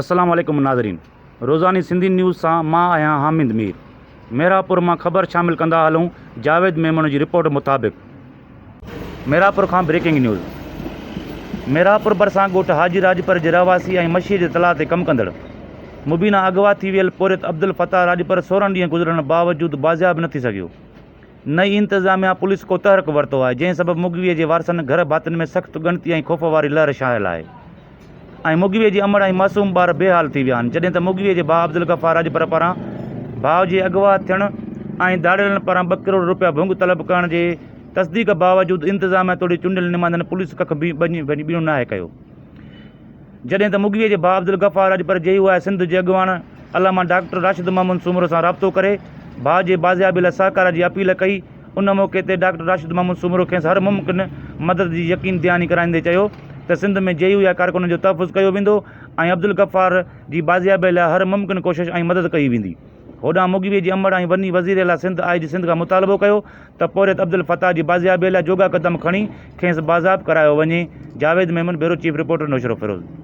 السلام عليڪم ناظرين روزاني سنڌي نيوز سان مان آهيان حامد مير ميرانپور مان خبر شامل ڪندا هلون جاويد ميمڻ جي رپورٽ مطابق ميرانپور کان بريڪنگ نيوز ميرانپور ڀرسان ڳوٺ حاجي راڄپر جي رهواسي ۽ مشيء جي تلاء تي ڪم ڪندڙ مبينا اغوا ٿي ويل پورهيت عبدالفتاح راڄپر سورهن ڏينهن گذرڻ باوجود بازياب نه ٿي سگهيو نه ئي انتظاميا پوليس ڪو تحرڪ ورتو آهي جنهن سبب مغوي جي وارثن گهر ڀاتين ۾ سخت ڳڻتي ۽ خوف واري لهر ڇانيل آهي ۽ مغويء جي امڙ ۽ معصوم ٻار بي حال ٿي ويا آهن جڏهن ته مغويء جي ڀاء عبدالغفار راڄپر پاران ڀاء جي اغوا ٿيڻ ۽ ڌاڙيلن پاران ٻه ڪروڙ روپيا ڀونگ طلب ڪرڻ جي تصديق باوجود انتظاميا توڙي چونڊيل نمائندن پوليس ڪک به ٻيڻو ناهي ڪيو جڏهن ته مغويء جي ڀاء عبدالغفار راڄپر جي يو آء سنڌ جي اڳواڻ علامه ڊاڪٽر راشد محمد سومرو سان رابطو ڪري ڀاء جي بازيابي لاء سهڪار جي اپيل ڪئي ان موقعي تي ڊاڪٽر راشد محمود سومرو کيس هر ممڪن مدد جي يقين دهاني ڪرائيندي چيو ته سنڌ ۾ جي يو اي ڪارڪنن جو تحفظ ڪيو ويندو ۽ عبدالغفار جي بازيابي لاء هر ممڪن ڪوشش ۽ مدد ڪئي ويندي هوڏانهن مغوي جي امڙ ۽ وني وزير اعليٰ سنڌ آء جي سنڌ کان مطالبو ڪيو ته پورهيت عبدالفتاح جي بازيابي لاء جوڳا قدم کڻي کيس بازاب ڪرايو وڃي Javed Memon, bureau chief, reporter Naushahro Feroze.